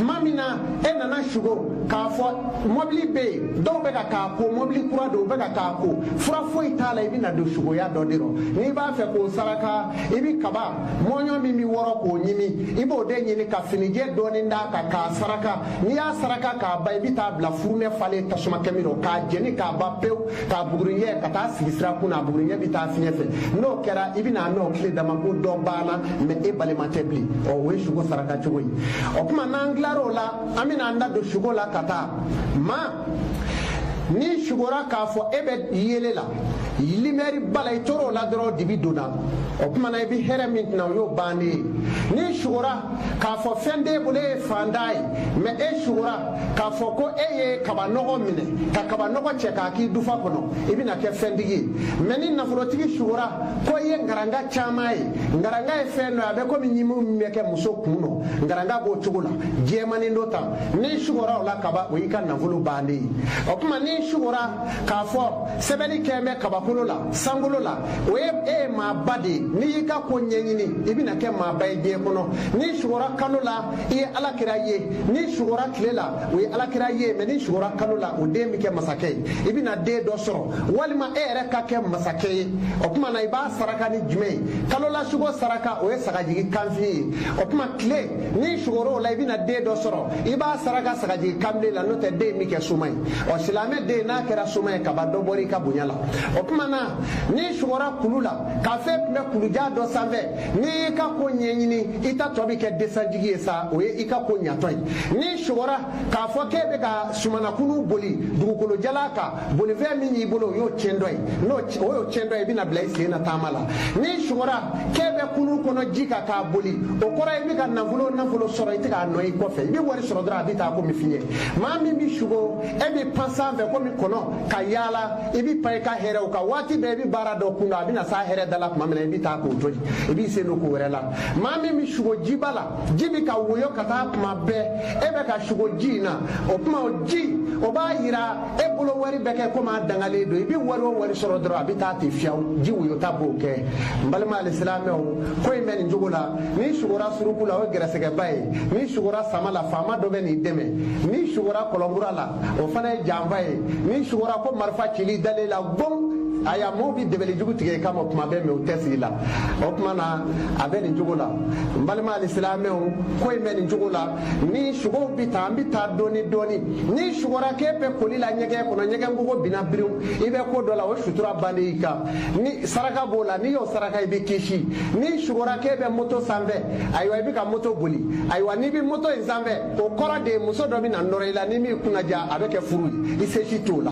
tuma min na e nana sugo k'a fɔ mɔbili bɛ yen dɔw bɛ ka k'a ko mɔbili kura don u bɛ ka k'a ko fura foyi t'a la i bɛna don sugoya dɔ de rɔ n'i b'a fɛ k'o saraka i bɛ kaba mɔɲɔ min bɛ wɔrɔ k'o ɲimi i b'o de ɲini ka finijɛ dɔɔni d'a kan k'a saraka n'i y'a saraka k'a ban i bɛ t'a bila furunɛ falen tasuma kami rɔ k'a jeni k'a ban pewu k'a buguri cɛ ka taa sigi sira kun na a bugurijɛ bɛ taa fiɲɛ fɛ n'o kɛra i bɛna n'o tile dama ko dɔ banna mɛ e balima tɛ bilen ɔ o ye suko saraka cogo ye o tuma n'an tilar'o la an bɛna an da don suko la ka taa maa n'i sugora k'a fɔ e bɛ yeelen na limɛri b'a la i tor'o la dɔrɔn dibi donna o tuma na i bɛ hɛrɛ min cɛma o y'o bannen ye n'i sugora k'a fɔ fɛn t'e bolo e ye fantan ye mɛ e sugora k'a fɔ ko e ye kabanɔgɔ minɛ ka kabanɔgɔ cɛ k'a k'i dufa kɔnɔ i bɛna kɛ fɛntigi ye mɛ ni nafolotigi sugora ko i ye ngaranga caman ye ngaranga ye fɛn dɔ ye a bɛ komi ɲimiw min bɛ kɛ muso kun nɔ ngaranga b'o cogo la jɛmanin dɔ ta n'i sugora o la kaba o y'i ka nafolo bannen ye o tuma n'i sugora k'a fɔ sɛbɛnni kɛ bɛ kabakolo la sankolo la o ye e ye maaba de ye n'i y'i ka ko ɲɛɲini i bɛna kɛ maaba ye diɲɛ kɔnɔ n'i sugora kalo la i ye ala kira ye n'i sugora tile la o ye ala kira ye mɛ n'i sugora kalo la o den bɛ kɛ masakɛ ye i bɛna den dɔ sɔrɔ walima e yɛrɛ ka kɛ masakɛ ye o tuma na i b'a saraka ni jumɛn ye kalo la sugo saraka o ye sagajigi kanfin ye o tuma tile n'i sugora o la i bɛna den dɔ sɔrɔ i b'a saraka sagajigi kanbilen la n'o tɛ den bɛ kɛ soma ye ɔ silamɛ den n'a kɛra soma ye kaba dɔ bɔra i ka bonya la o tuma na n'i sugora kulu la k'a fɔ e tun bɛ kulu jan dɔ sanfɛ n'i y'i ka ko ɲɛɲini i ta tɔ bɛ kɛ desanjigi ye sa o ye i ka ko ɲatɔ ye n'i sugora k'a fɔ k'e bɛ ka somɔnɔ kurun boli dugukolo jalan kan bolifɛn min b'i bolo o y'o tiɲɛtɔ ye n'o o y'o tiɲɛtɔ ye i bɛna bila i sen na taama la n'i sugora k'e bɛ kurun kɔnɔ ji kan k'a boli o kɔrɔ ye i bɛ ka nafolo nafolo sɔrɔ i tɛ k'a nɔ ye kɔfɛ i bɛ wari sɔrɔ dɔrɔn a bɛ taa komi fiɲɛ maa min bɛ sugo e bɛ pan sanfɛ komi kɔnɔ ka yaala i b'i pan i ka hɛrɛw kan waati bɛɛ i bɛ baara dɔ kun a bɛna s'a hɛrɛ da la tuma min na i bɛ taa k'o to yen i b'i sen don ko wɛrɛ la maa min bɛ sugo jiba la ji bɛ ka woyo ka taa tuma bɛɛ e bɛ ka sugo ji in na o tuma o ji o b'a yira e bolo wari bɛ kɛ komi a dangalen don i bɛ wari o wari sɔrɔ dɔrɔn a bɛ taa ten fiyawu ji woyota b'o kɛ n balima alisilamɛw ko in bɛ nin cogo la n'i sugora suruku la o ye gɛrɛsɛgɛba ye n'i sugora sama la faama dɔ bɛn'i dɛmɛ n'i sugora kɔlɔn kura la o fana ye janfa ye n'i sugora ko marifa cili dalen la gom aya maa bi dabali jugu tigɛ i kama kuma bɛɛ mɛ u tɛ sigi la o tuma na a bɛ nin cogo la n balima alisilamɛw ko in bɛ nin cogo la nin sugow bi taa an bi taa dɔɔni dɔɔni n'i sugora k'e bɛ koli la ɲɛgɛn kɔnɔ ɲɛgɛn kogo binna biriw i bɛ ko dɔ la o sutura ban de i kan ni saraka b'o la n'i y'o saraka i bɛ kisi n'i sugora k'e bɛ moto sanfɛ ayiwa i bɛ ka moto boli ayiwa n'i bɛ moto in sanfɛ o kɔrɔ de muso dɔ bɛ na nɔrɔ i la ni min kunnaja a bɛ kɛ furu ye i se si t'o la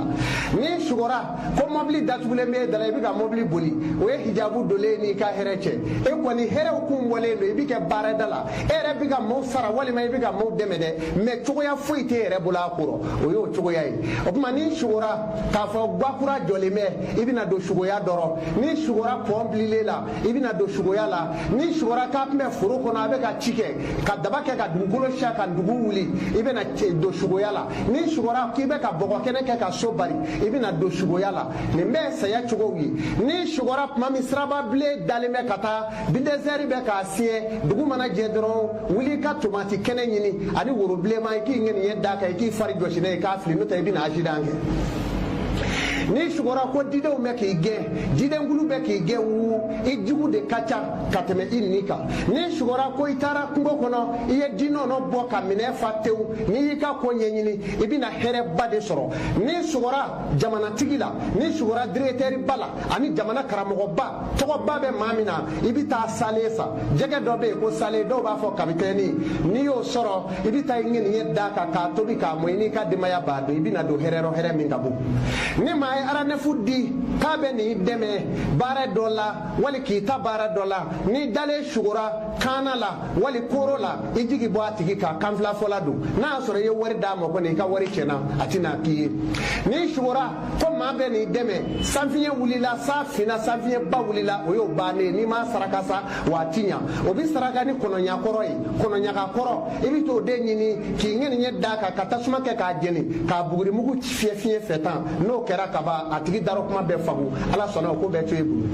n'i sugora ko mɔbili datugulen bɛ e da la i bɛ ka mɔbili boli o ye hijabu donlen n'i ka hɛrɛ cɛ e kɔni hɛrɛw kun bɔlen don i bɛ kɛ baarada la e yɛrɛ bɛ ka maaw sara walima i bɛ ka maaw dɛmɛ dɛ mɛ cogoya foyi t'e yɛrɛ bolo a kɔrɔ o y'o cogoya ye o tuma n'i sugora k'a fɔ gwa kura jɔlen bɛ i bɛna don sugoya dɔrɔn n'i sugora pɔn bililen la i bɛna don sugoya la n'i sugora k'a tun bɛ foro kɔnɔ a bɛ ka ci kɛ ka daba kɛ ka dugukolo siyɛn ka dugu wuli i bɛna don sugoya la n'i sugora k'i bɛ ka bɔgɔ kɛnɛ kɛ ka so bari i bɛna don sugoya la nin bɛɛ saya cogow ye n'i sugora tuma min siraba bilen dalen bɛ ka taa bulidozɛri bɛ k'a siɲɛ dugu mana jɛ dɔrɔn wuli ka tomati kɛnɛ ɲini ani woro bilenma i k'i ŋaniya d'a kan i k'i fari jɔsi n'a ye k'a fili n'o tɛ i bɛna asidan kɛ n'i sugora ko didenw bɛ k'i gɛn didenkulu bɛ k'i gɛn wu i jugu de ka ca ka tɛmɛ i ɲin kan n'i sugora ko i taara kungo kɔnɔ i ye di nɔnɔ bɔ ka minɛn fa tewu n'i y'i ka ko ɲɛɲini i bɛna hɛrɛba de sɔrɔ n'i sugora jamanatigi la n'i sugora diregitɛriba la ani jamana karamɔgɔba tɔgɔba bɛ maa min na i bɛ taa salen san jɛgɛ dɔ bɛ yen ko salen dɔw b'a fɔ kapitɛni n'i y'o sɔrɔ i bɛ taa ŋaniya d'a kan k'a tobi k'a mɔ i n'i ka denbaya b'a dun i bɛna don hɛrɛ rɔ hɛrɛ min ka bon ni maa ye arandevu di k'a bɛn'i dɛmɛ baara dɔ la wali k'i ta baara dɔ la n'i dalen sugora kaana la wali kooro la i jigi bɔ a tigi kan kanfilafɔla don n'a y'a sɔrɔ i ye wari d'a ma kɔni i ka wari tiɲɛna a tɛna k'i ye n'i sugora ko maa bɛn'i dɛmɛ sanfiɲɛ wulila sa finna sanfiɲɛba wulila o y'o bannen n'i m'a saraka sa wa a ti ɲa o bi saraka ni kɔnɔɲakɔrɔ ye kɔnɔɲagakɔrɔ i bi t'o de ɲini k'i ŋaniya d'a kan ka tasuma kɛ k'a jeni k'a bugurimugu fiyɛ fiɲɛ fɛ tan n'o kɛra ka ban a tigi darɔ kuma bɛ faga ala sɔnna o ko bɛ to i bolo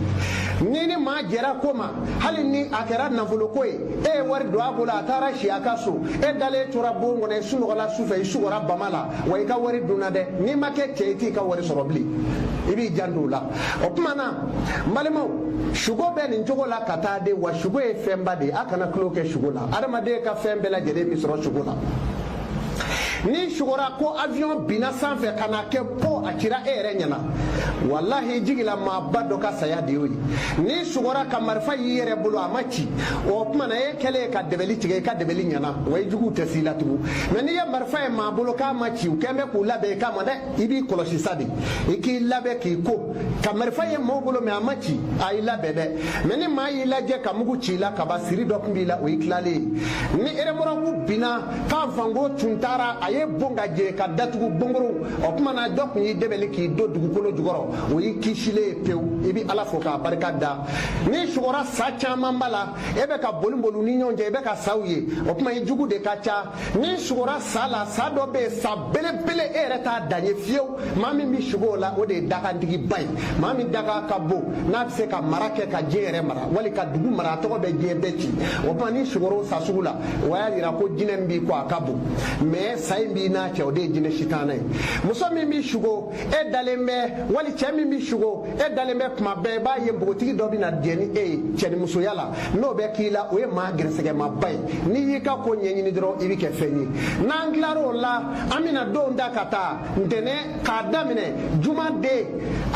n'i ni maa jɛra ko ma hali ni a kɛra nafoloko ye e ye wari don a bolo a taara si a ka so e dalen tora bon kɔnɔ i sunɔgɔla sufɛ i sugora bama la wa i ka wari dunna dɛ n'i ma kɛ cɛ i t'i ka wari sɔrɔ bilen i b'i janto o la o tuma na n balimaw sugo bɛ nin cogo la ka taa de wa sugo ye fɛnba de ye a kana tulon kɛ sugo la adamaden ka fɛn bɛɛ lajɛlen bɛ sɔrɔ sugo la n'i sugora ko avion binna sanfɛ ka na kɛ po a cira e yɛrɛ ɲɛna walahi jigila maaba dɔ ka saya de y'o ye n'i sugora ka marifa y'i yɛrɛ bolo a ma ci o tuma na e kɛlen ye ka dɛbɛli tigɛ i ka dɛbɛli ɲɛna wa i juguw tɛ s'i la tugun mɛ n'i ye marifa ye maa bolo k'a ma ci u kɛn bɛ k'u labɛn i kama dɛ i b'i kɔlɔsi sa de i k'i labɛn k'i ko ka marifa ye maaw bolo mɛ a ma ci a y'i labɛn dɛ mɛ ni maa y'i lajɛ ka mugu ci i la kaba siri dɔ tun b'i la o y'i tilalen ye ni eremɔrɔku binna k'a fango tun taara a ye bon ka jɛ k'a datugu bɔgɔ rɔ o tuma na dɔ tun y'i dɛbɛli k'i don dugukolo jukɔrɔ o y'i kisilen ye pewu i bɛ ala fo k'a barika da n'i sugora sa caman b'a la e bɛ ka boli boli u ni ɲɔgɔn cɛ i bɛ ka saw ye o tuma i jugu de ka ca n'i sugora sa la sa dɔ bɛ yen sa belebele e yɛrɛ t'a dan ye fiyewu maa min bɛ sugo o la o de ye dakantigiba ye maa min dakan ka bon n'a bɛ se ka mara kɛ ka diɲɛ yɛrɛ mara wali ka dugu mara a tɔgɔ bɛ diɲɛ cɛci o tuma n'i sugora o sa sugu la o y'a jira ko jinɛ min b'i kɔ a ka bon mɛ sa in b'i n'a cɛ o de ye jinɛ sitana ye muso min bɛ sugo e dalen bɛ wali cɛ min bɛ sugo e dalen bɛ kuma bɛɛ i b'a ye npogotigi dɔ bɛ na jɛ ni e ye cɛnimusoya la n'o bɛ k'i la o ye maa gɛrɛsɛgɛmaba ye n'i y'i ka ko ɲɛɲini dɔrɔn i bɛ kɛ fɛn ye n'an tilar'o la an bɛna don da ka taa ntɛnɛn k'a daminɛ juma den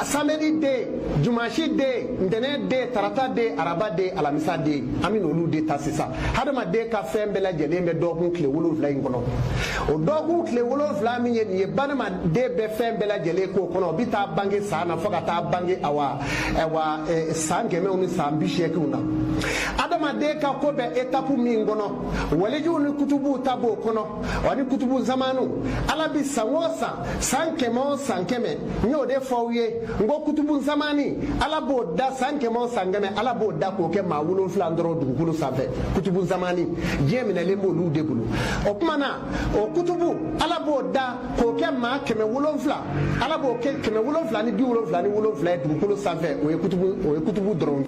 samedi den dimanche den ntɛnɛn den tarata den araba den alamisa den an bɛna olu de ta sisan hadamaden ka fɛn bɛɛ lajɛlen bɛ dɔgɔkun tile wolonwula in kɔnɔ o dɔgɔkun tile wolonwula min ye nin ye banadama den bɛ fɛn bɛɛ lajɛlen k'o kɔnɔ o bɛ taa bange san na fo ka taa bange awa awa eh, san kɛmɛw ni san bi seeginw na adamaden ka ko bɛ etapu min kɔnɔ walijuw ni kutubuw ta b'o kɔnɔ wa ni kutubu zamanu ala bi san o san san kɛmɛ o san kɛmɛ n y'o de fɔ aw ye n ko kutubu zamani ala b'o da san kɛmɛ o san kɛmɛ ala b'o da k'o kɛ maa wolonfila dɔrɔn dugukolo sanfɛ kutubu zamani diɲɛ minɛlen b'olu de bolo o tuma na o kutubu ala b'o da k'o kɛ maa kɛmɛ wolonfila ala b'o kɛ kɛmɛ wolonfila ni bi wolonfila ni wolonfila ye dugukolo sanfɛ o ye kutubu o ye kutubu dɔrɔn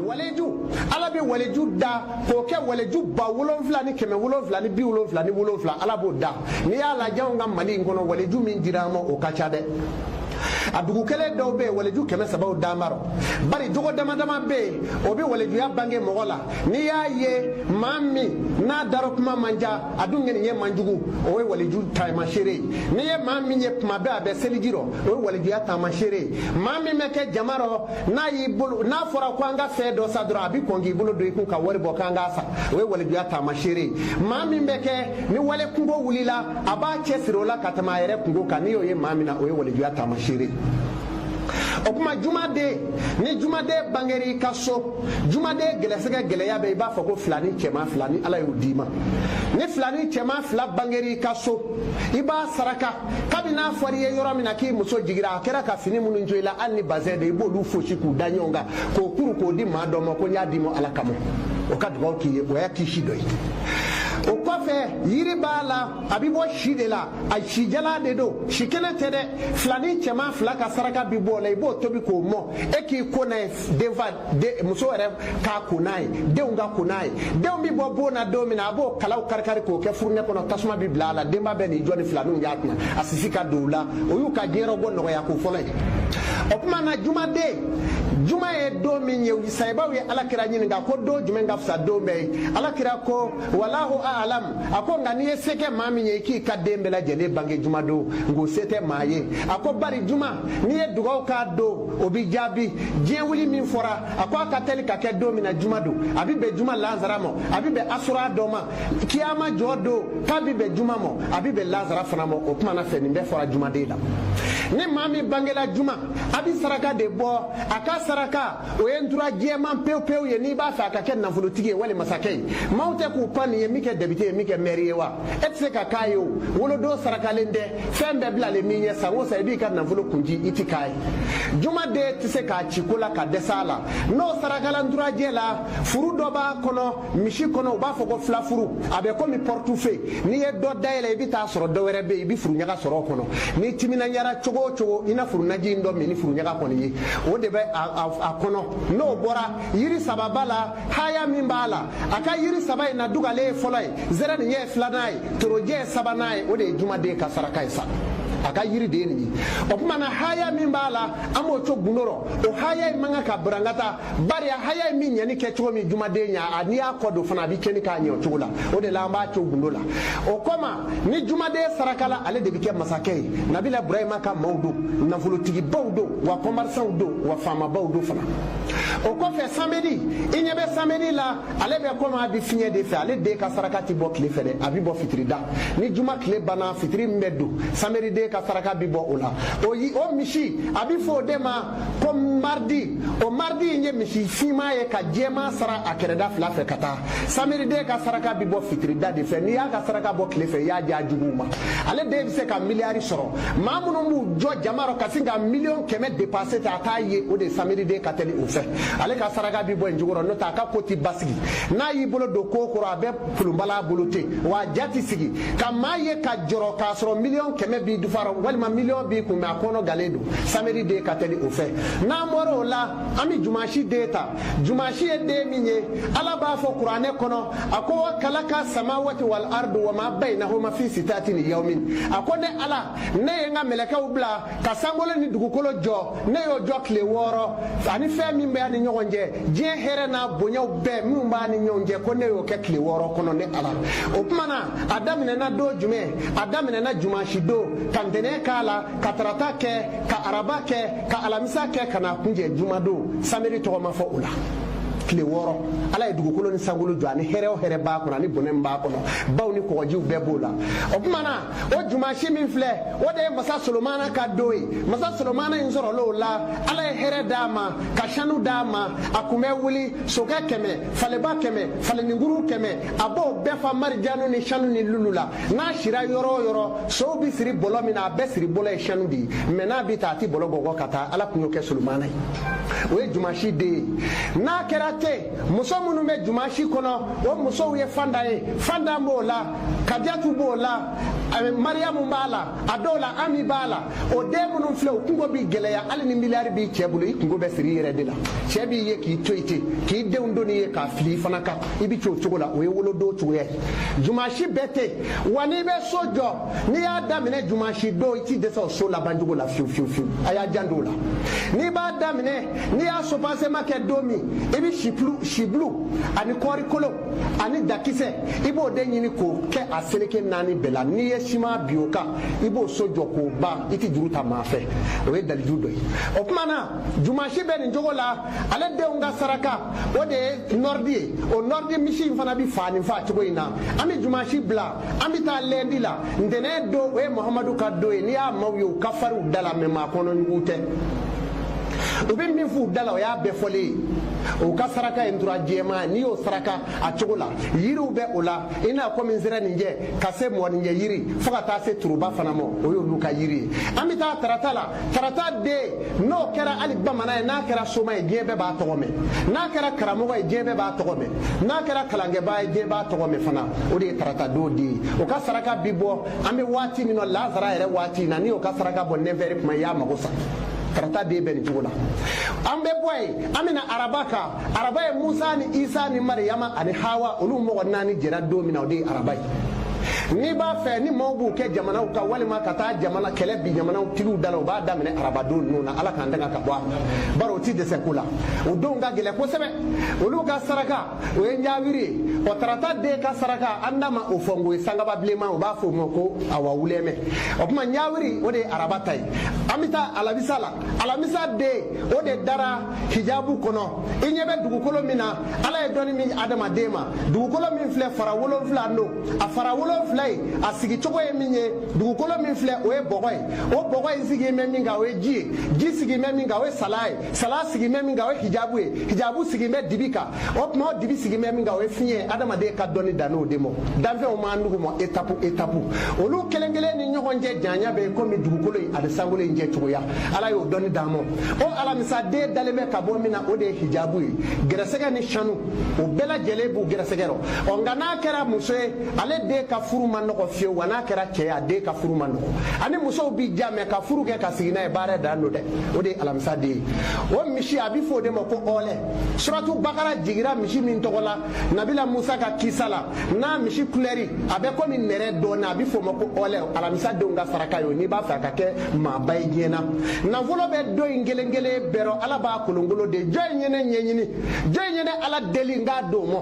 waleju ala bɛ waleju da k'o kɛ waleju ba wolonfila ni kɛmɛ wolonfila ni bi wolonfila ni wolonfila ala b'o da n'i y'a lajɛ anw ka mali in kɔnɔ waleju min dira an ma o ka ca dɛ a dugu kelen dɔw bɛ yen waleju kɛmɛ sabaw dan b'a rɔ bari jogo dama dama bɛ yen o bɛ walejuya bange mɔgɔ la n'i y'a ye maa min n'a darɔ kuma man ca a dun ŋaniya man jugu o ye waliju taamasere ye n'i ye maa min ye tuma bɛɛ a bɛ seliji rɔ o ye walijuya taamasere ye maa min bɛ kɛ jama rɔ n'a y'i bolo n'a fɔra ko an ka fɛn dɔ san dɔrɔn a bɛ kɔn k'i bolo don i kun ka wari bɔ k'an k'a san o ye walijuya taamasere ye maa min bɛ kɛ ni wali kunko wulila a b'a cɛ siri o la ka tɛmɛ a yɛrɛ kunko kan n'i y'o ye maa min na o ye walijuya taamasere ye o tuma jumaden ni jumaden bangera i ka so jumaden gɛlɛsɛgɛ gɛlɛya bɛ i b'a fɔ ko filanin cɛman fila ni ala y'o d'i ma ni filanin cɛman fila bangera i ka so i b'a saraka kabini n'a fɔra i ye yɔrɔ min na k'i muso jigira a kɛra ka fini minnu to i la hali ni bazɛn de i b'olu fosi k'u da ɲɔgɔn kan k'o kuru k'o di maa dɔ ma ko n y'a d'i ma ala kama o ka dugawu k'i ye o y'a kisi dɔ ye o kɔfɛ yiri b'a la a bɛ bɔ si de la a sijala de don si kelen tɛ dɛ filanin cɛman fila ka saraka bɛ bɔ o la i b'o tobi k'o mɔ e k'i ko n'a ye denfa muso yɛrɛ k'a ko n'a ye denw ka ko n'a ye denw bɛ bɔ bon na don min na a b'o kalaw karikari k'o kɛ furunɛ kɔnɔ tasuma bɛ bila a la denba bɛ n'i jɔ ni filaninw y'a kunna a sisi ka don u la o y'u ka diɲɛyɔrɔ bɔ nɔgɔya ko fɔlɔ ye o tuma na jumaden juma ye don min ye sahabaw ye alakira ɲininka ko don jumɛn ka fisa don bɛɛ ye alakira ko walahu alam a ko nka n'i ye se kɛ maa min ye i k'i ka den bɛɛ lajɛlen bange jumadon nka o se tɛ maa ye a ko bari juma n'i ye dugaw k'a don o bi jaabi diɲɛ wuli min fɔra a ko a ka teli ka kɛ don min na juma don a bi bɛn juma lazara ma a bi bɛn asura don ma kiyama jɔ don k'a bi bɛn juma ma a bi bɛn lazara fana ma o tuma na fɛn nin bɛɛ fɔra jumaden la ni maa min bangela juma a bi saraka de bɔ a ka saraka o ye ntura jɛman pewu pewu ye n'i b'a fɛ a ka kɛ nafolotigi ye wali masakɛ ye maaw tɛ k'u pan nin ye min kɛ depite ye min kɛ mɛri ye wa e tɛ se ka k'a ye o wolodon sarakalen tɛ fɛn bɛɛ bilalen min ɲɛ san o san i b'i ka nafolo kunji i ti k'a ye jumaden tɛ se k'a ci ko la ka dɛsɛ a la n'o sarakala nturajɛ la furu dɔ b'a kɔnɔ misi kɔnɔ u b'a fɔ ko filafuru a bɛ komi pɔritufe n'i ye dɔ dayɛlɛ i bɛ taa sɔrɔ dɔ wɛrɛ bɛ yen i bɛ furuɲaga sɔrɔ o kɔnɔ n'i timinandiyara cogo o cogo i na furunaji in dɔ min ni furuɲaga kɔni ye o de bɛ a kɔnɔ n'o bɔra yiri saba b'a la haya min b'a la a ka yiri saba in na dugalen ye fɔlɔ ye zɛrɛnin ye filanan ye torojɛ ye sabanan ye o de ye jumaden ka saraka ye sa a ka yiri de ye nin ye o tuma na haya min b'a la an b'o to gundo rɔ o haya in man kan ka burankata bari a haya in bi ɲɛni kɛ cogo min jumaden ɲa a n'i y'a kɔ don fana a bɛ tiɲɛni k'a ɲɛ o cogo la o de la an b'a to gundo la o kɔma ni jumaden sarakala ale de bɛ kɛ masakɛ ye nabila burahima ka maaw don nafolotigibaw don wa kɔmɛrisanw don wa faamabaw don fana o kɔfɛ samedi i ɲɛ bɛ samedi la ale bɛ komi a bɛ fiɲɛ de fɛ ale den ka saraka tɛ bɔ tile fɛ dɛ a bɛ bɔ fitirida ni juma tile banna fitiri min bɛ don samedi den ka saraka bɛ bɔ o la o yi o misi a bɛ fɔ o de ma ko maridi o maridi in ye misi finma ye ka jɛman sara a kɛrɛda fila fɛ ka taa samedi den ka saraka bɛ bɔ fitirida de fɛ n'i y'a ka saraka bɔ tile fɛ i y'a di a juguw ma ale den bɛ se ka miliyari sɔrɔ maa minnu b'u jɔ jama rɔ ka sin ka miliyɔn kɛmɛ depansi ta a t'a ye o de samedi den ka teli o fɛ ale ka saraka bi bɔ nin cogo rɔ n'o tɛ a ka ko ti basigi n'a y'i bolo don ko kɔrɔ a bɛ pulunbala bolo ten wa a ja ti sigi ka maa ye ka jɔrɔ k'a sɔrɔ miliyɔn kɛmɛ b'i dufa rɔ walima miliyɔn b'i kun mɛ a kɔnɔ gannen don samedi den ka teli o fɛ n'an bɔra o la an bɛ jumasi den ta jumasi ye den min ye ala b'a fɔ kuranɛ kɔnɔ a ko wa kalaka samawati wal ardu wa ma bainahuma fi sitati ayamin a ko ne ala ne ye n ka mɛlɛkɛw bila ka sankolo ni dugukolo jɔ ne y'o jɔ tile wɔɔrɔ ani fɛn min b'a ni ɲɔgɔn cɛ diɲɛ hɛrɛ n'a bonyaw bɛɛ minnu b'a ni ɲɔgɔn cɛ ko ne y'o kɛ tile wɔɔrɔ kɔnɔ ne ala o tuma na a daminɛna don jumɛn a daminɛna jumasi don ka ntɛnɛn k'a la ka tarata kɛ ka araba kɛ ka alamisa kɛ ka n'a kunjɛ jumadon samedi tɔgɔ ma fɔ o la tile wɔɔrɔ ala ye dugukolo ni sankolo jɔ ani hɛrɛ o hɛrɛ b'a kɔnɔ ani bɔnɛ min b'a kɔnɔ baw ni kɔgɔjiw bɛɛ b'o la o tuma na o jumasi min filɛ o de ye masa solomana ka don ye masa solomana in sɔrɔl'o la ala ye hɛrɛ d'a ma ka sanu d'a ma a kun bɛ wuli sokɛ kɛmɛ faleba kɛmɛ faleninkuru kɛmɛ a b'o bɛɛ fa marijanu ni sanu ni lulu la n'a sira yɔrɔ o yɔrɔ sow bɛ siri bɔlɔ min na a bɛɛ siri bɔlɔ ye sanu de ye mɛ n'a bɛ taa a tɛ bɔlɔ gɔgɔ ka taa ala tun y'o kɛ solomana ye o ye jumasi den ye n'a kɛra ten muso minnu bɛ jumasi kɔnɔ o musow ye fanta ye fanta b'o la kadiyatu b'o la mariyamu b'a la a dɔw la ami b'a la o den minnu filɛ o kunko bi gɛlɛya hali ni miliyari b'i cɛ bolo i kunko bɛ siri i yɛrɛ de la cɛ b'i ye k'i to i ten k'i denw doni ye k'a fili i fana ka i bɛ cogo cogo la o ye wolodon cogoya ye jumasi bɛ ten wa n'i bɛ so jɔ n'i y'a daminɛ jumasi don i t'i dɛsɛ o so laban cogo la fiyewu fiyewu fiyewu a y'a janto o la n'i b'a daminɛ n'i y'a subasema kɛ don min i bɛ sibulu sibulu ani kɔɔri kolo ani dakisɛ i b'o de ɲini k'o kɛ a seleke naani bɛɛ la n'i ye siman bi o kan i b'o so jɔ k'o ban i tɛ juru ta maa fɛ o ye dalilu dɔ ye o tuma na jumasi bɛ nin cogo la ale denw ka saraka o de ye nɔridi ye o nɔridi misi in fana bɛ fa nin fa cogo in na an bɛ jumasi bila an bɛ taa lɛndi la ntɛnɛn don o ye mahamadu ka don ye n'i y'a maaw ye u ka farin u da la mɛ maa kɔnɔjugu tɛ u bɛ min f'u da la o y'a bɛɛ fɔlen ye o ka saraka ye ntura jɛman n'i y'o saraka a cogo la yiriw bɛ o la i n'a komi nsɛrɛninjɛ ka se mɔgɔninjɛ yiri fo ka taa se turuba fana ma o y'olu ka yiri ye an bɛ taa tarata la tarata den n'o kɛra hali bamanan ye n'a kɛra soma ye diɲɛ bɛɛ b'a tɔgɔ mɛn n'a kɛra karamɔgɔ ye diɲɛ bɛɛ b'a tɔgɔ mɛn n'a kɛra kalankɛbaa ye diɲɛ b'a tɔgɔ mɛn fana o de ye tarata don den ye o ka saraka bi bɔ an bɛ waati min na lasara yɛrɛ waati in na n'i y'o ka saraka bɔ nɛfɛri kuma i y'a mago sa tarata den bɛ nin cogo la an bɛ bɔ yen an bɛ na araba kan araba ye musa ni isa ni mariyama ani hawa olu mɔgɔ naani jɛra don min na o de ye araba ye n'i b'a fɛ ni maaw b'u kɛ jamanaw ka walima ka taa jamana kɛlɛ bi jamanaw tigiw da la u b'a daminɛ arabadon ninnu na ala k'an tanga ka bɔ a ma bari o ti dɛsɛ ko la o denw ka gɛlɛn kosɛbɛ olu ka saraka o ye ɲawiri ye ɔ tarata den ka saraka an da ma o fɔ n ko ye sagaba bilenman u b'a fɔ o ma ko awa wulɛmɛ o tuma ɲawiri o de ye araba ta ye an bɛ taa alamisa la alamisa den o de dara hijabu kɔnɔ i ɲɛ bɛ dugukolo min na ala ye dɔnni min adamaden ma dugukolo min filɛ fara wolonfila don a fara wolonfila ye a sigi cogo ye min ye dugukolo min filɛ o ye bɔgɔ ye o bɔgɔ in sigilen bɛ min kan o ye ji ye ji sigilen bɛ min kan o ye sala ye sala sigilen bɛ min kan o ye hijabu ye hijabu sigilen bɛ dibi kan o tuma o dibi sigilen bɛ min kan o ye fiɲɛ adamaden ka dɔnni danna o de mɔ danfɛnw m'an nugu mɔ etapu etapu olu kelen kelen ni ɲɔgɔn cɛ janya bɛ yen komi dugukolo in ani sankolo in cɛ cogoya ala y'o dɔnni d'an mɔ o alamisaden dalen bɛ ka bɔ min na o de ye hijabu ye gɛrɛsɛgɛ ni sanu o bɛɛ lajɛlen b'u gɛrɛsɛgɛ rɔ ɔ nka n'a kɛra muso ye ale den ka furu man nɔgɔ fiyewu wa n'a kɛra cɛ ye a den ka furu man nɔgɔ ani musow b'i ja mɛ ka furu kɛ ka sigi n'a ye baara dan don dɛ o de ye alamisaden ye o misi a bɛ fɔ o de ma ko ɔɔlɛ suratu bakara jigira misi min tɔgɔ la nabila musa ka kisa la n'a misi kulɛri a bɛ komi nɛrɛ dɔɔni a bɛ f'o ma ko ɔlɛ alamisa denw ka saraka ye o n'i b'a fɛ a ka kɛ maaba ye diɲɛ na nafolo bɛ don in kelen kelen bɛɛ rɔ ala b'a kolonkolon de jɔn in ye ne ɲɛɲini jɔn in ye ne ala deli n k'a d'o mɔ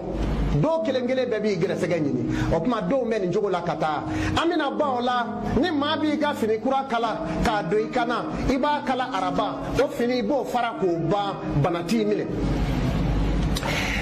dɔw kelen kelen bɛɛ b'i gɛrɛsɛgɛ ɲini o tuma denw bɛ nin cogo la ka taa an bɛna ban o la ni maa b'i ka fini kura kala k'a don i kan na i b'a kala araba o fini i b'o fara k'o ban bana t'i minɛ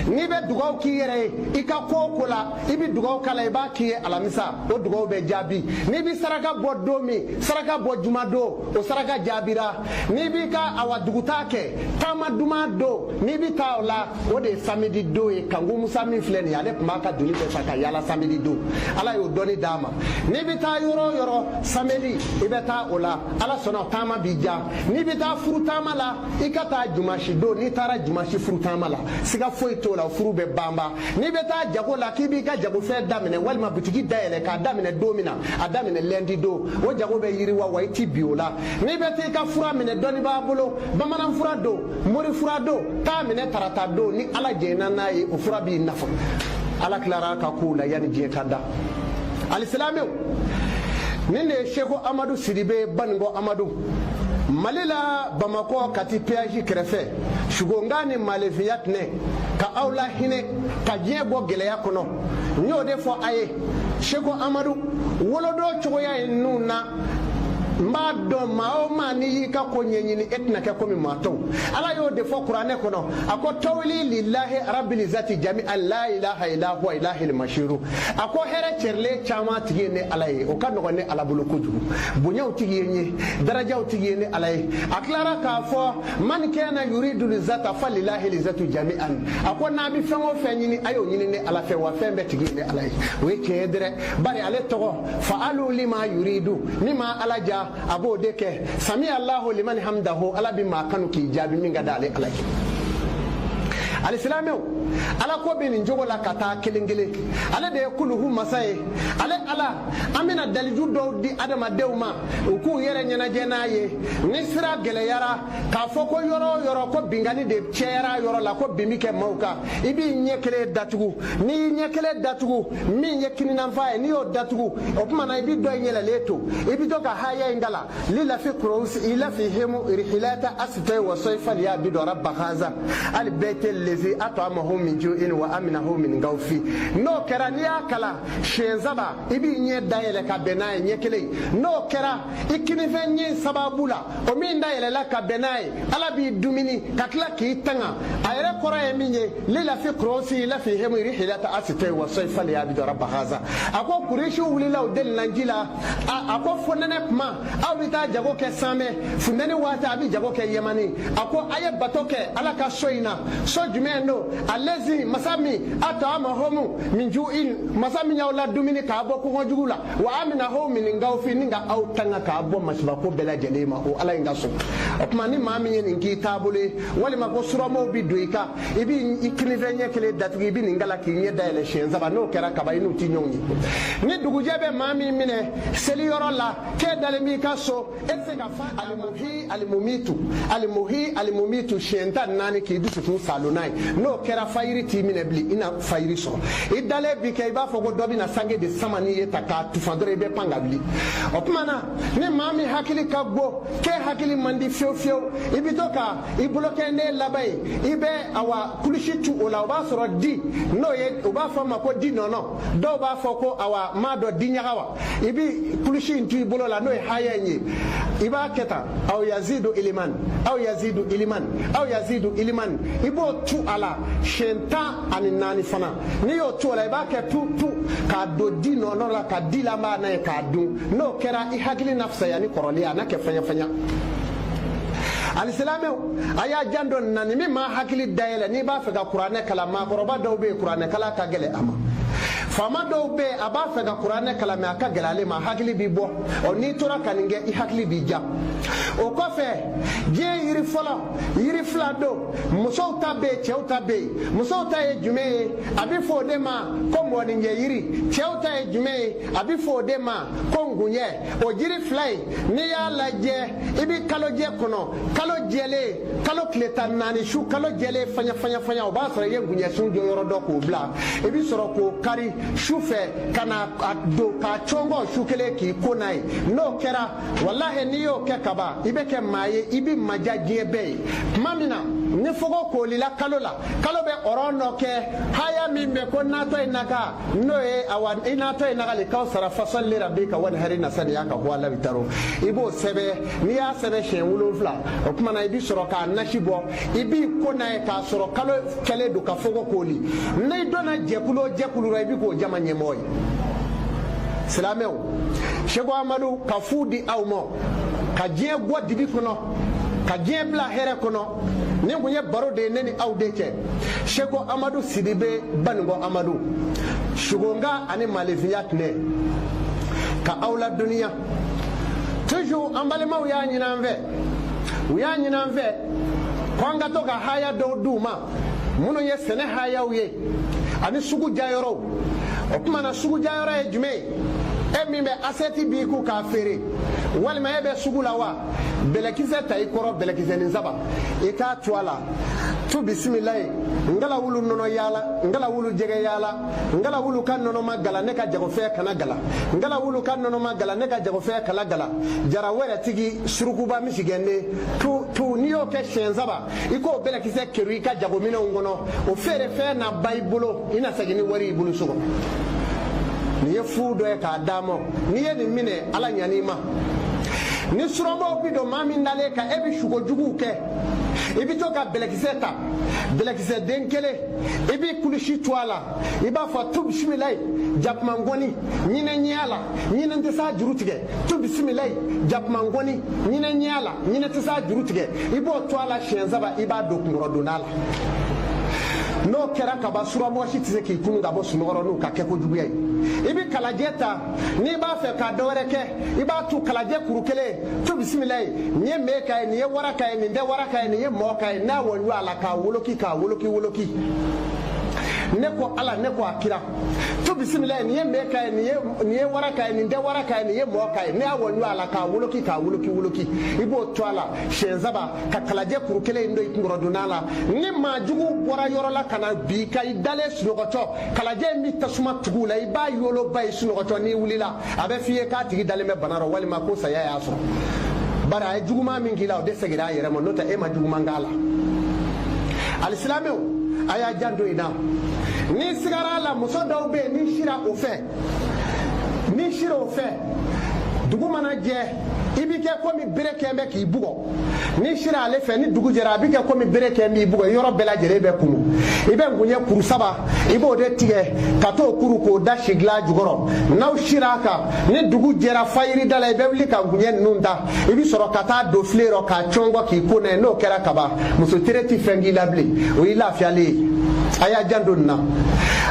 n'i bɛ dugaw k'i yɛrɛ ye i ka ko o ko la i bɛ dugaw k'a la i b'a k'i ye alamisa o dugaw bɛ jaabi n'i bɛ saraka bɔ don min saraka bɔ juma don o saraka jaabira n'i b'i ka awa dugutaa kɛ taama duman don n'i bɛ taa o la o de ye samedi don ye kanku musa min filɛ nin ye ale tun b'a ka doni bɛɛ ta ka yaala samedi don ala y'o dɔnni d'a ma n'i bɛ taa yɔrɔ o yɔrɔ samedi i bɛ taa o la ala sɔnna taama b'i diya n'i bɛ taa furu taama la i ka taa dimasi don n'i taara dimasi furu taama la siga foyi t'o la furu bɛ banba n'i bɛ taa jago la k'i b'i ka jagofɛn daminɛ walima bitigi dayɛlɛ k'a daminɛ don min na a daminɛ lɛndi don o jago bɛ yiriwa wa i ti bin o la n'i bɛ t'i ka fura minɛ dɔnnibaa bolo bamanan fura don mori fura don taa minɛ tarata don ni ala jɛnna n'a ye o fura b'i nafa ala tilara ka kow la yanni diɲɛ ka da alisilamɛw nin de ye seko amadu sidibe baninko amadu mali la bamakɔ kati peyaji kɛrɛfɛ sugonka ni malefiya tɛnɛ ka aw la hinɛ ka diɲɛ bɔ gɛlɛya kɔnɔ n y'o de fɔ a ye seko amadu wolodon cogoya ye ninnu na n b'a dɔn maa o maa n'i y'i ka ko ɲɛɲini e tɛna kɛ komi maa tɔw ala y'o de fɔ kuranɛ kɔnɔ a ko tawili lilahi rabili izati jami'an la ilaha ila huwa ilahil mashiru a ko hɛrɛ cɛrilen caman tigi ye ne ala ye o ka nɔgɔn ne ala bolo kojugu bonyaw tigi ye n ye darajaw tigi ye ne ala ye a tilara k'a fɔ man kana yuridu lizata falilahi lizatu jami'an a ko n'a bɛ fɛn o fɛn ɲini a y'o ɲini ne ala fɛ wa fɛn bɛɛ tigi ye ne ala ye o ye tiɲɛ ye dɛrɛ bari ale tɔgɔ fa'alu lima yuridu min ma ala diya a b'o de kɛ sami alahu liman hamidahu ala bɛ maa kanu k'i jaabi min ka da ale ala ye alisilamɛw ala ko bɛ nin cogo la ka taa kelen kelen ale de ye kuluhu masa ye ale ala an bɛna daliju dɔw di adamadenw ma u k'u yɛrɛ ɲɛnajɛ n'a ye ni sira gɛlɛyara k'a fɔ ko yɔrɔ o yɔrɔ ko binkani de cayara yɔrɔ la ko bin bɛ kɛ maaw kan i b'i ɲɛ kelen datugu n'i y'i ɲɛ kelen datugu min ye kininyanfan ye n'i y'o datugu o tuma na i bɛ dɔ in yɛlɛlen to i bɛ to ka haya in kalan lilafi kurayisi ilafihemu irihilata asitɛ wa sɔyi faliya bidu raba hazali bɛyiti lezi atoamahum min ju'in wa aminahum min kawfi n'o kɛra n'i y'a kalan siɲɛ saba i b'i ɲɛ dayɛlɛ ka bɛn n'a ye ɲɛ kelen n'o kɛra i kininfɛ ɲɛ sababu la o min dayɛlɛla ka bɛn n'a ye ala b'i dumuni ka tila k'i tanga a yɛrɛ kɔrɔ ye min ye lilafi kurayisi ilafihemu irihilata asitɛ wa sɔyi faliya bidu raba haza a ko kuresi wulila o deli lanji la a ko fonɛnɛ tuma aw bɛ taa jago kɛ sami funteni waati a bɛ jago kɛ yɛmani a ko a ye bato kɛ ala ka so in na so jumɛn don a lezi masa min atoamahumu min ju'in masa min y'aw la dumuni k'a bɔ kɔngɔ jugu la wa aminahum min kawfi ni ka aw tanga k'a bɔ masibako bɛɛ lajɛlen ma o ala in ka so o tuma ni maa min ye nin k'i taabolo ye walima ko suramaaw bi don i kan i b'i i kininfɛ ɲɛ kelen datugu i bɛ nin kalan k'i ɲɛ dayɛlɛ siɲɛ saba n'o kɛra kaban i n'u ti ɲɔgɔn ye ni dugujɛ bɛ maa min minɛ seli yɔrɔ la k'e dalen b'i ka so e tɛ se k'a fɔ alimuhi alimumitu alimuhi alimumitu siɲɛ tan naani k'i dusukun saalo n'a ye n'o kɛra fajiri t'i minɛ bilen i na fajiri sɔrɔ i dalen bi kɛ i b'a fɔ ko dɔ bɛna sange de sama n'i ye ta k'a tufa dɔrɔn i bɛ pan ka wuli o tuma na ni maa min hakili ka go k'e hakili man di fiyewu fiyewu i bɛ to ka i bolokɛnden laban in i bɛ awa kulusi tu o la o b'a sɔrɔ di n'o ye u b'a fɔ a ma ko di nɔnɔ dɔw b'a fɔ ko awa m'a dɔn di ɲaga wa i bɛ kulusi in tu i bolo la n'o ye haya in ye i b'a kɛ tan aw yazidu iliman aw yazidu iliman aw yazidu iliman i b'o tu a la siɲɛ tan ani naani fana n'i y'o tu o la i b'a kɛ tu tu k'a don di nɔnɔ la ka di la b'a n'a ye k'a dun n'o kɛra i hakili na fisaya ni kɔrɔlen a na kɛ fɛɲɛfɛɲɛ alisilamɛw a y'a janto a la nin bi maa hakili dayɛlɛ n'i b'a fɛ ka kuranɛ kalan maakɔrɔba dɔw bɛ yen kuranɛ kalan ka gɛlɛn a ma faama dɔw bɛ yen a b'a fɛ ka kuranɛ kalan mɛ a ka gɛlɛn ale ma hakili b'i bɔ ɔ n'i tora ka nin kɛ i hakili b'i ja o kɔfɛ diɲɛ yiri fɔlɔ yiri fila don musow ta bɛ yen cɛw ta bɛ yen musow ta ye jumɛn ye a bɛ fɔ o de ma ko mɔɔninjɛ yiri cɛw ta ye jumɛn ye a bɛ fɔ o de ma ko ngunjɛ o jiri fila in n'i y'a lajɛ i bɛ kalojɛ kɔnɔ kalo jɛlen kalo tile tan naani su kalo jɛlen faɲafaɲafaɲa o b'a sɔrɔ i ye ngunjɛsun jɔyɔrɔ dɔn k'o bila i bɛ sɔrɔ k'o kari su fɛ ka na a don k'a cɔngɔ su kelen k'i ko n'a ye n'o kɛra walahi n'i y'o kɛ kaban i bɛ kɛ maa ye i bɛ maja diɲɛ bɛɛ ye tuma min na ni fogo koolila kalo la kalo bɛ ɔrɔn dɔ kɛ haya min bɛ ko natɔ ye naka n'o ye awa i natɔ ye nagali kawsara fasɔli le rabi ka wani hari nasani y'a ka huwa labi taro i b'o sɛbɛn n'i y'a sɛbɛn siɲɛ wolonfila o tuma na i bi sɔrɔ k'a nasi bɔ i b'i ko n'a ye k'a sɔrɔ kalo kɛlen don ka fogo kooli n'i donna jɛkulu o jɛkulu la i bi k'o jama ɲɛmɔgɔ ye silamɛw seko amadu ka fu di aw ma ka diɲɛ bɔ dibi kɔnɔ ka diɲɛ bila hɛrɛ kɔnɔ nin kun ye baro de ye ne ni aw de cɛ seko amadu sidibe banikɔ amadu sugonka ani malefinya tɛnɛ ka aw la duniya toujours an balimaw y'a ɲini an fɛ u y'a ɲini an fɛ ko an ka to ka haya dɔw d'u ma minnu ye sɛnɛ hayaw ye ani sugu diyayɔrɔw o tuma na sugu diyayɔrɔ ye jumɛn ye e min bɛ asɛti b'i kun k'a feere walima e bɛ sugu la wa bɛlɛkisɛ ta i kɔrɔ bɛlɛkisɛnin saba i k'a tu a la tu bisimilayi ngala wulu nɔnɔ yaala ngala wulu jɛgɛ yaala ngala wulu ka nɔnɔ ma gala ne ka jagofɛn kana gala ngala wulu ka nɔnɔ ma gala ne ka jagofɛn kana gala jara wɛrɛ tigi surukuba misigɛnden tu tu n'i y'o kɛ siɲɛ saba i k'o bɛlɛkisɛ kerun i ka jagominɛnw kɔnɔ o feerefɛn na ban i bolo i na segin ni wari i bolo so kɔnɔ nin ye fu dɔ ye k'a d'a ma n'i ye nin minɛ ala ɲan'i ma ni surabaw bi don maa min dalen kan e bɛ sugo juguw kɛ i bɛ to ka bɛlɛkisɛ ta bɛlɛkisɛ den kelen i bɛ kilisi tu a la i b'a fɔ tu bisimilayi jakuma ngɔni ɲinɛ ɲɛ y'a la ɲinɛ tɛ s'a juru tigɛ tu bisimilayi jakuma ngɔni ɲinɛ ɲɛ y'a la ɲinɛ tɛ s'a juru tigɛ i b'o tu a la siɲɛ saba i b'a don kunkɔrɔdonna la n'o kɛra ka ban suramɔgɔ si tɛ se k'i kunun ka bɔ sunɔgɔ rɔ n'o ka kɛ ko juguya ye i bɛ kalajɛ ta n'i b'a fɛ ka dɔwɛrɛ kɛ i b'a tu kalajɛ kuru kelen tu bisimilayi nin ye mee ka ye nin ye wara ka ye nin tɛ wara ka ye nin ye mɔɔ ka ye n'a wɔnju a la k'a woloki k'a woloki woloki ne ko ala ne ko a kira tu bisimilayi nin ye mee ka ye nin ye wara ka ye nin tɛ wara ka ye nin ye mɔɔ ka ye ne y'a wɔnju a la k'a woloki k'a woloki woloki i b'o tu a la siɲɛ saba ka kalajɛ kuru kelen in don i kunkɔrɔdonna la ni maa jugu bɔra yɔrɔ la ka na bin i kan i dalen sunɔgɔtɔ kalajɛ in bɛ tasuma tugu a la i b'a yoloba ye sunɔgɔtɔ n'i wulila a bɛ f'i ye k'a tigi dalen bɛ bana rɔ walima ko saya y'a sɔrɔ bari a ye juguman min k'i la o de segira a yɛrɛ ma n'o tɛ e ma juguman k'a la alisilamɛw a y'a janto in na n'i sigara a la muso dɔw bɛ yen n'i sira o fɛ n'i sira o fɛ dugu mana jɛ i bɛ kɛ komi bere kɛn bɛ k'i bugɔ n'i sira ale fɛ ni dugu jɛra a bɛ kɛ komi bere kɛn b'i bugɔ i yɔrɔ bɛɛ lajɛlen bɛ kumu i bɛ ngunjɛ kuru saba i b'o de tigɛ ka t'o kuru k'o da sigilan jukɔrɔ n'aw sira a kan ni dugu jɛra fajiri da la i bɛ wuli ka ngunjɛ ninnu ta i bɛ sɔrɔ ka t'a don filen rɔ k'a cɔngɔ k'i ko n'a ye n'o kɛra ka ban muso tere ti fɛn k'i la bilen o y'i lafiyalen ye a y'a janto nin na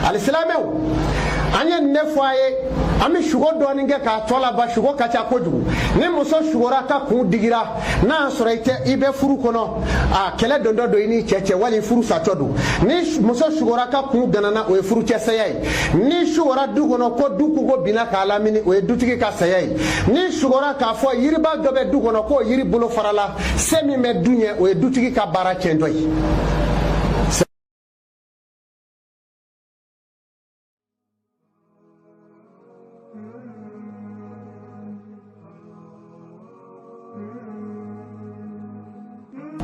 alisilamɛw an ye nin de fɔ a ye an bɛ sugo dɔɔni kɛ k'a tɔ laban sugo ka ca kojugu ni muso sugora k'a kun digira n'a y'a sɔrɔ i tɛ i bɛ furu kɔnɔ a kɛlɛ dontɔ don i n'i cɛ cɛ wali furu satɔ don ni muso sugora k'a kun ganana o ye furucɛ saya ye n'i sugora du kɔnɔ ko du kogo binna k'a lamini o ye dutigi ka saya ye n'i sugora k'a fɔ yiriba dɔ bɛ du kɔnɔ k'o yiri bolo farala se min bɛ du ɲɛ o ye dutigi ka baara tiɲɛtɔ ye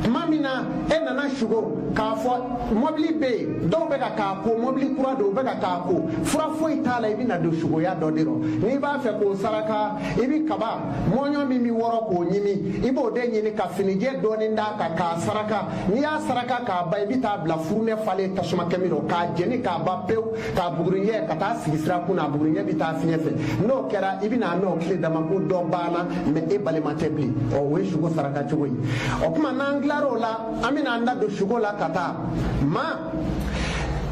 tuma min na e nana sugo k'a fɔ mɔbili bɛ yen dɔw bɛ ka k'a ko mɔbili kura don u bɛ ka k'a ko fura foyi t'a la i bɛna don sugoya dɔ de rɔ n'i b'a fɛ k'o saraka i bɛ kaba mɔɲɔ min bɛ wɔrɔ k'o ɲimi i b'o de ɲini ka finijɛ dɔɔni d'a kan k'a saraka n'i y'a saraka k'a ban i bɛ t'a bila furunɛ falen tasuma kami rɔ k'a jeni k'a ban pewu ka bugurijɛ ka taa sigi sira kun na bugurijɛ bɛ taa fiɲɛ fɛ n'o kɛra i bɛna n'o tile dama ko dɔ banna mɛ e balima tɛ bilen ɔ o ye suko saraka cogo ye o tuma n'an tilara o la an bɛna an da don suko la ka taa maa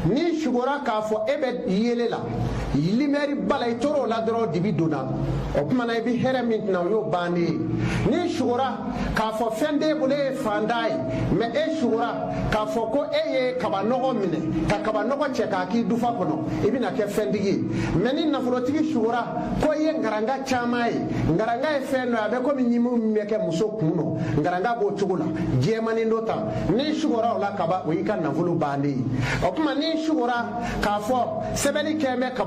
n'i sugora k'a fɔ e bɛ yeelen la limɛri b'a la i tora o la dɔrɔn dibi donna o tuma na i bɛ hɛrɛ min tɛna o y'o bannen ye n'i sugora k'a fɔ fɛn t'e bolo e ye fantan ye mɛ e sugora k'a fɔ ko e ye kabanɔgɔ minɛ ka kabanɔgɔ cɛ k'a k'i dufa kɔnɔ i bɛna kɛ fɛntigi ye mɛ ni nafolotigi sugora ko i ye ngaranga caman ye ngaranga ye fɛn dɔ ye a bɛ komi ɲimi min bɛ kɛ muso kun nɔ ngaranga b'o cogo la jɛmanin don tan n'i sugora o la kaban o y'i ka nafolo bannen ye o tuma n'i sugora k'a fɔ sɛbɛnni kɛlen bɛ kaba